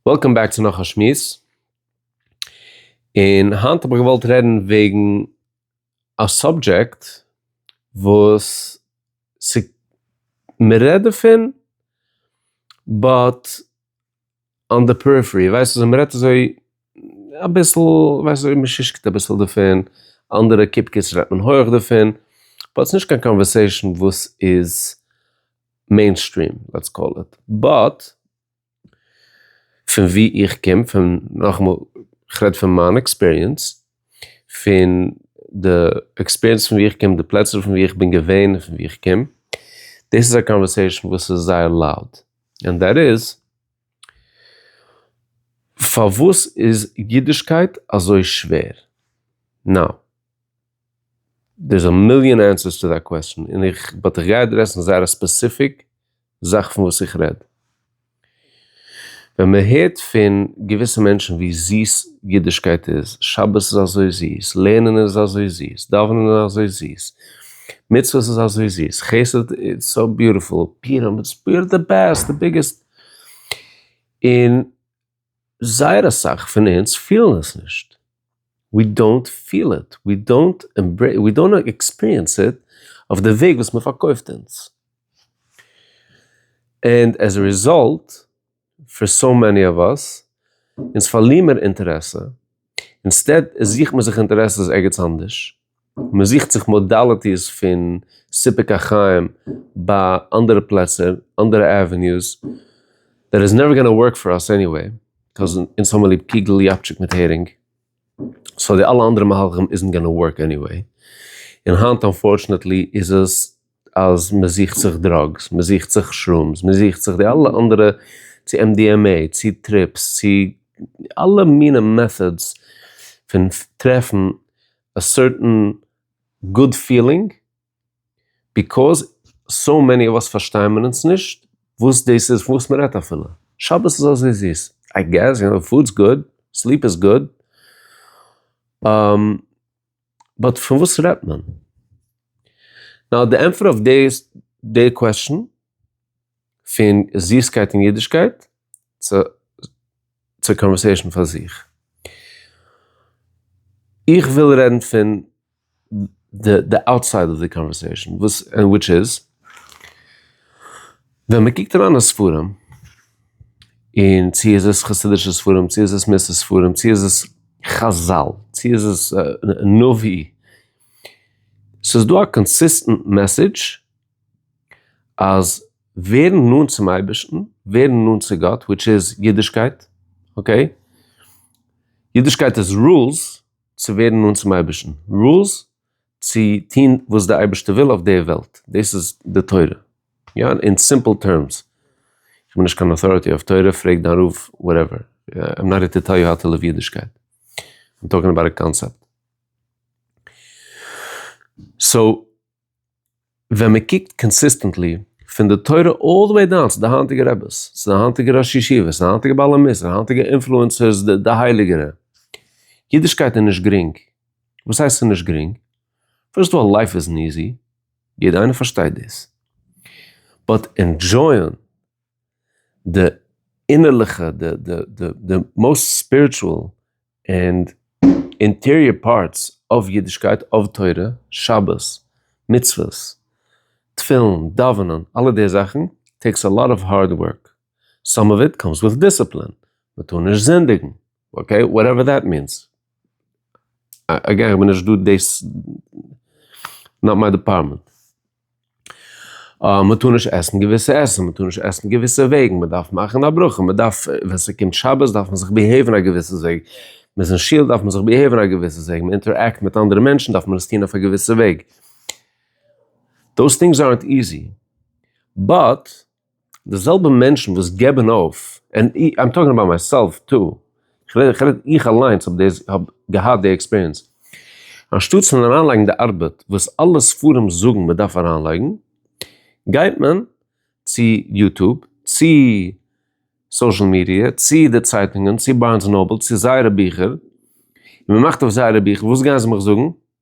וועלקאם בעק צו נאך א שמועס, און היינט האב איך געוואלט רעדן וועגן א סאבדזשעקט וואס ס'איז מ'רעדט דערפון באט אן די פעריפערי, ווייסט אזוי מ'רעדט אזוי אביסל, ווייסט אזוי מ'שושקעט אביסל דערפון, אנדערע קופקעס רעדט מען הויעך דערפון, באט ס'נישט קיין קאנווערסעישן וואס איז, מעינסטרים לעטס קאל איט, באט פון ווי איך קום פון נאכאמאל איך רעד פון מיין עקספיריענס פון די עקספיריענס פון ווי איך קום די פלעצער פון ווי איך בין געווען און פון ווי איך קום דאס איז א קאנווערסעישאן וואס איז זייער לאוד און דעט איז פארוואס איז אידישקייט אזוי שווער נאו. דער'ס א מיליאן ענסערס טו דעט קוועסטשן, און איך, באט איך גיי אדרעסן זייער א ספעסיפיק זאך פון וואס איך רעד. ווען מ'הערט פון געוויסע מענטשן ווי זיס אידישקייט איז, שבת איז אזוי זיס, לערנען איז אזוי זיס, דאווענען איז אזוי זיס, מצוות איז אזוי זיס, חסד איטס סאו ביוטיפול, פיורים איטס די בעסט, די ביגעסט, און זייער אסאך פון אונז פילן עס נישט, ווי דאונט פיל איט, ווי דאונט עמברעיס, ווי דאונט עקספיריענס איט אויף די וועג וואס מען פארקויפט אונז. ענד עז א ריזאלט פאר סאו מעני אוו אס, אונז פארליר מיר אינטערעסע, אינסטעד זוכט מען זיך אינטערעסעס ערגעץ אנדערש. מען זוכט זיך מאדאליטיס פון סיפוק החיים ביי אנדערע פלעצער, אנדערע עוועניוס, דעט איז נעווער גאנא ווארק פאר אס עניוועי, קאז אונז האמער ליב קוגל, יאפטשיק מיט הערינג, סאו די אלע אנדערע מהלכים איזנט גאנא ווארק עניוועי, און היינט אנפארטשענעטלי איז עס. אז מען זוכט זיך דראגס, מען זוכט זיך שרומס, מען זוכט זיך די אלע אנדערע צו MDMA, צו טריפס, צו אלע מינע מעטאדס פון טרעפן א סערטען גוד פילינג, ביקאוז סאו מעני אוו אס פארשטיימען אונז נישט וואס דאס איז פון וואס מען רעדט אפילו. שבת איז אזוי זיס, איי געס, יו נאו, פוד'ס גוד, סליפ איז גוד, באט פון וואס רעדט מען? נאו די ענטפער אויף דעיס די קוועסטשען פון זיסקייט און אידישקייט צו קאנווערסעישען פאר זיך. איך וויל רעדן פון די אוטסייד אוו די קאנווערסעישען וויטש איז. ווען מען קוקט אריין אין ספרים, און צו איז עס חסידישע ספרים, צו איז עס מוסר ספרים, צו איז עס חזל, צו איז עס נביא, ס'איז דא א קאנסיסטענט מעסעדזש אז ווערן נאנט צום אייבערשטן, ווערן נאנט צו גאט, וויטש איז אידישקייט, אקעי? אידישקייט איז רולס צו ווערן נאנט צום אייבערשטן, רולס צו טון וואס די אייבערשטער וויל אויף די וועלט, דאס איז די תורה. יא אין סימפל טערמס, איך בין נישט קיין אוטאריטי אויף תורה, פרעג דיין רב, וואטעווער, איים נאט הער טו טעל יו האו טו ליוו אידישקייט, איים טאלקינג אבאוט א קאנצעפט. סאו ווען מען קוקט קאנסיסטענטלי פון די תורה אלל די וועי דאון צו די היינטיגע רעבעס, צו די היינטיגע ראשי ישיבות, צו די היינטיגע בעלי מוסר, די היינטיגע אינפלוענסערס, די הייליגערע, אידישקייט איז נישט גרינג, וואס הייסט ס'איז נישט גרינג? פירסט אוו אלל לייף איז ניזי, יעדע איינער פארשטייט דאס. באט ענדזשויען די אינערליכע, די מאוסט ספיריטשועל ענד אינטעריער פארטס אוו אידישקייט, אוו תורה, שבת, מצוות, תפילין, דאווענען, אלע די זאכן טעיקס א לאט אוו הארד ווארק. סאם אוו איט קאמס וויט דיסציפלין, מען טאר נישט זינדיגן. אקעי, וואטעווער דעט מיענס. אגעין, איך בין נישט דא דאס, נאט מיי דעפארטמענט. מען טאר נישט עסן געוויסע עסן, מען טאר נישט עסן געוויסע וועגן, מען דארף מאכן א ברכה, מען דארף, ווען ס'קומט שבת דארף מען זיך ביהעיוון א געוויסע וועג, מען איז אין שול דארף מען זיך ביהעיוון א געוויסע וועג, מען אינטערעקט מיט אנדערע מענטשן דארף מען עס טון אויף א געוויסע וועג. דאס טינגס ארנט איזי, באט. די זעלבע מענטשן וואס געבן אויף, ענד אי איים טאלקינג אבאוט מיי סעלף טא, איך רעד איך רעד איך אליינס האב דעס האב געהאט די עקספיריענס, אנשטאטס פון אריינלייגן די ארבעט וואס אלע ספרים זאגן מען דארף אריינלייגן, גייט מען צו יוטוב, צו סאושעל מידיע, צו די צייטונגען, צו בארנס נאבל, צו זייערע ביכער, און מען מאכט אויף זייערע ביכער, וואס גייען זיי מיך זאגן?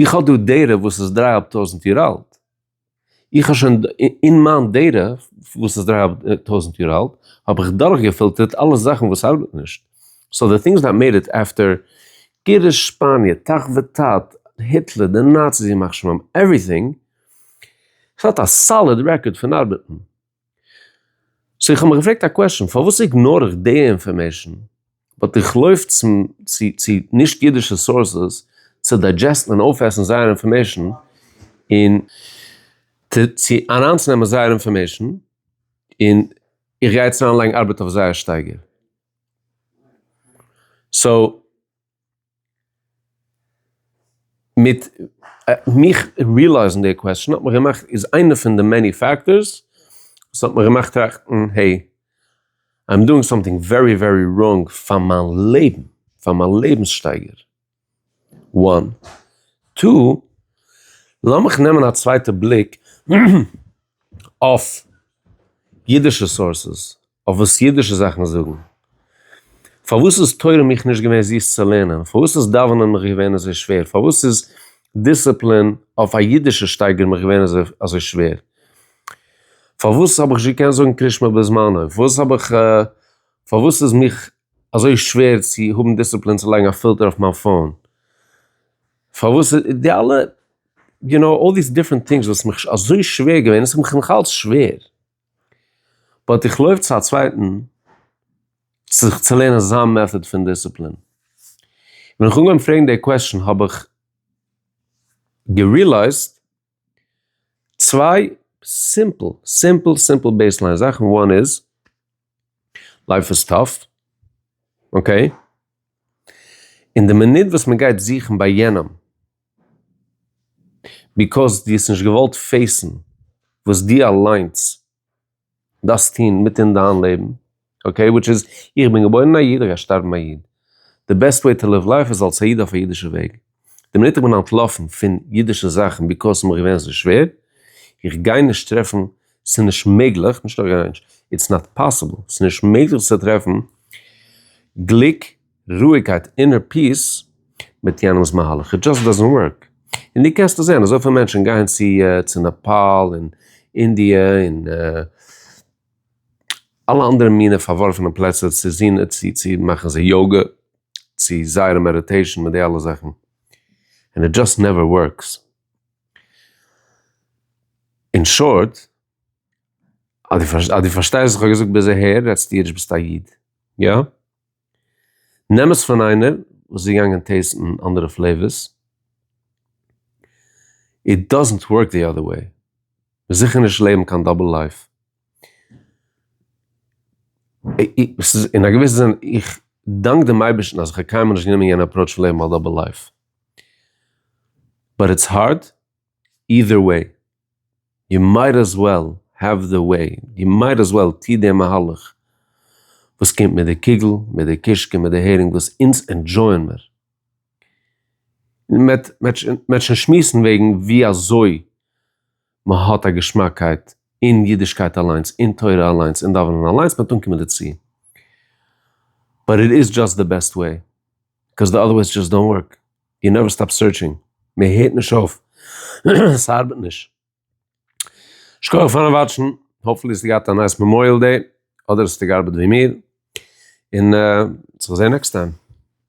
איך האב דא דירה וואס איז דריי האלב טויזענט יאר אלט, איך האב שוין אין מיין דירה וואס איז דריי האלב טויזענט יאר אלט האב איך דורך געפילטערט אלע זאכן וואס ארבעט נישט, סאו די טינגס דעט מעיד איט עפטער גירוש שפאניע תח ותט, היטלער, די נאציס ימח שמם, עווריטינג, ס'האט א סאליד רעקארד פון ארבעטן. סאו איך האב מיך געפרעגט א קוועשאן, פארוואס איגנאר איך די אינפארמעישאן, באט איך לויף צו נישט אידישע סאורסעס צו דיידזשעסטן און אויפעסן זייער אינפארמעישאן און צו אריינצונעמען זייער אינפארמעישאן און איך גיי יעצט אריינלייגן ארבעט אויף זייער שטייגער. מיט מיך ריעלייזן די קוועסטשען האט מיך געמאכט איז איינע פון די מעני פעקטארס וואס האט מיך געמאכט טראכטן העי איים דואינג סאמטינג ווערי ווערי ראנג פאר מיין לעבן פאר מיין לעבנס שטייגער וואן טו לאמיך נעמען א צווייטע בליק אויף אידישע סאורסעס. אויף וואס אידישע זאכן זאגן. פארוואס איז תורה מיך נישט געווען זיס צו לערנען? פארוואס איז דאווענען מיך געווען אזוי שווער? פארוואס איז דיסציפלין אויף א אידישע שטייגער מיך געווען אזוי שווער? פארוואס האב איך נישט געקענט זאגן קריש מע בזמנו? פארוואס האב איך פארוואס איז מיך אזוי שווער צו האבן דיסציפלין צו לייגן א פילטער אויף מיין פאון? פארוואס איז די אלע יו נאו אלל דיס דיפרענט טינגס וואס מיך אזוי שווער געווען און ס'איז מיך נאכאלץ שווער. באט איך לויף צו א צווייטן זיך צו לערנען זיין מעטאד פון דיסציפלין. ווען איך אנגעהויבן פרעגן די קוועשן האב איך גערילייזט צוויי סימפל סימפל סימפל בעיסליין זאכן, וואן איז, לייף איז טאף, אקעי, און די מינוט וואס מען גייט זוכן ביי יענעם, ביקאוס דו האסט נישט געוואלט פעיסן וואס דו אליינס דארפסט טון מיט אין דיין לעבן, אקעי, וויטש איז, איך בין געבוירן א איד, איך גיי שטארבן א איד, די בעסט וועי טו ליוו לייף איז אלס א איד אויף א אידישע וועג, די מינוט איך בין אנטלאפן פון אידישע זאכן ביקאוס ס'איז מיר געווען אזוי שווער, איך גיי נישט טרעפן, ס'איז נישט מעגליך, נישט נאר גיי נישט, איטס נאט פאסיבל, ס'איז נישט מעגליך צו טרעפן גליק רואיגקייט, אינער פיס, מיט יענעמס מהלך, איט דזשאסט דאזענט ווארק, און דו קענסט עס זען, אזויפיל מענטשן גייען צו צו נעפאל און אינדיע און אלע אנדערע מינע פארווארפענע פלעצער צו זין צו צו מאכן זיי יאגע, צו זייערע מעדעטעישן מיט די אלע זאכן, ענד איט דזשאסט נעווער ווארקס. אין שארט, אז דו פארשטייסט וואס איך האב געזאגט ביז אהער, רעדסטו אידיש ביסטו א איד, יא? נעם עס פון איינער וואס איז געגאנגען טעסטן אנדערע פלעיווערס, איט דאזענט ווארק די אדער וועי, וועסט זיכער נישט לעבן קיין דאבל לייף, אין א געוויסע זין, איך דאנק דעם אייבערשטן אז איך האב קיינמאל נישט גענומען יענע אפראוטש פון לעבן א דאבל לייף, באט איטס הארד אידער וועי, יו מייט עז וועל העוו די וועי, דו מייט עז וועל טו די מהלך וואס קומט מיט די קוגל, מיט די קישקע, מיט די הערינג וואס אונז ענדזשויען מיר. מעט מעט שוין שמועסן וועגן ווי אזוי מען האט א געשמאקייט אין אידישקייט אליינס, אין תורה אליינס, אין דאווענען אליינס, מעט אנקומען דערצו. באט איט איז דזשאסט די בעסט וועי. בקאז די אדערוועיס דזשאסט דאנט ווארק, יו נעווער סטאפ סערטשינג, מען הערט נישט אויף, ס'ארבעט נישט. שכוח פארן וואטשן, האפפולי האסטו געהאט א נייס מעמאריעל דעי, אדער האסטו געארבעט ווי מיר, און צו זעהן נעקסט טיים.